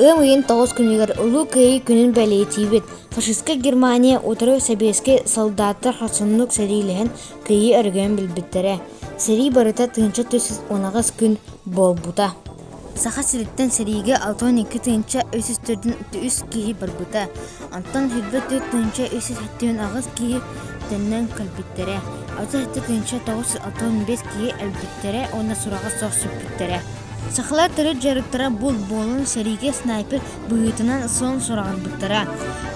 Ыам ыйын тоҕус күнүгэр Улуу Кыайыы күнүн бэлиэтиибит. Фашистка Германия утары сэбиэскэй солдаттар хорсуннук сэриилэһэн кыайыы өрөгөйүн билбиттэрэ. Сэрии барыта тыынча түс унаҕас күн буолбута. Саха сириттэн сэриигэ алта уон икки тыһыынча үс сүүс төрдүн отuz үс киһи барбыта, онтон сүүрбэ төрт тыһыынча үс сүүс сэттиэн аҕыс киһи төннөн кэлбиттэрэ, алта сэттэ тыһыынча тоҕус жүз алта бэс киһи өлбүттэрэ уонна сураҕа суох сүппүттэрэ. Сахалар төрүт дьарыктара булт буолан сэриигэ снайпер быһыытынан сон сураҕырбыттара.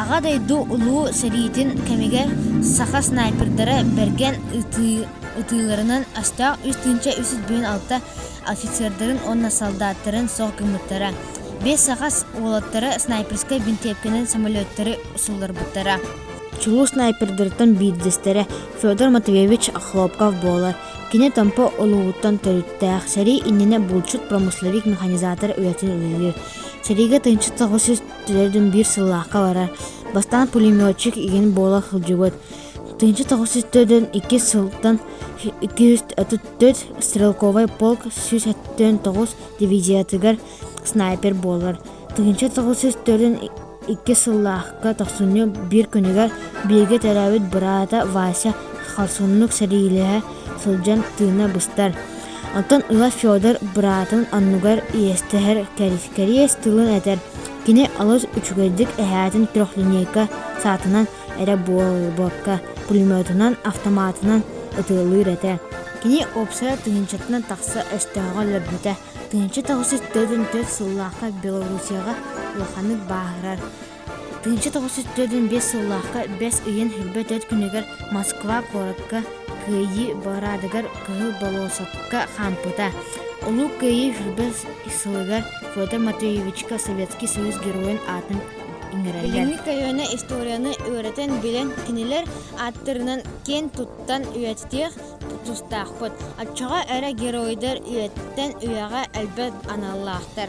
Аҕа дойду улуу сэриитин кэмигэр саха снайпердара бэргэн ытыы ытыыларынан астаах үс тыһыынча үс сүүс биээн алта офицердарын уонна солдаттарын суох гыммыттара. Бэс сахас уолаттара снайперскай бинтиэпкэнэн самолеттары суулларбыттара. Чулуу снайпердарыттан биирдэстэрэ Федор Матвеевич Хлопков буолар. Кини Томпо улууһуттан төрүттээх, сэрии иннинэ булчут-промысловик механизатор үлэтин үлэлиир. Сэриигэ тыынчыт соҕус төрдүн сыллаахха барар. Бастаан пулеметчик игин буола сылдьыбыт. Тыынчыт соҕус төрдүн иккис сылтан 230 Төрт стрелковай полк сүүс өттөн тоҕус дивизиятыгар снайпер буолар. Тыһыынча тоҕус сүүс төрүн икки сыллаахка тохсунньу биир күнүгэр бииргэ төрөөбүт быраата Вася хорсуннук сэриилэһэ сылдьан тыына быстар. Оттон ыла Федор быраатын оннугар иэстэһэр кэриэс тылын этэр. Кини олус үчүгэйдик эһээтин трехлинейка саатынан эрэ буолбакка, пулеметунан, автоматынан ытыалыыр этэ. Кини уопсайа тыһыынчатынан тахса өстөөҕө өлөрбүтэ. Тыһыынча тоҕус жүз төрдүн төрт сыллаахха Белоруссияҕа улаханнык бааһырар. Тыһыынча тоҕус жүз төрдүн биэс сыллаахха бэс ыйын хилбэ төрүт күнүгэр Москва куоратка Кыайыы параадыгар Кыһыл болосокка хаампыта. Улуу Кыайыы хилбэ сылыгар Федор Матвеевичка Советский Союз геройун аатын Билиҥҥи көлүөнэ историяны үөрэтэн билэн кинилэр ааттарынан киэн туттан үйэтитиэх тустаахпыт. Оччоҕо эрэ геройдар үйэттэн үйэҕэ элбэх аналлаахтар.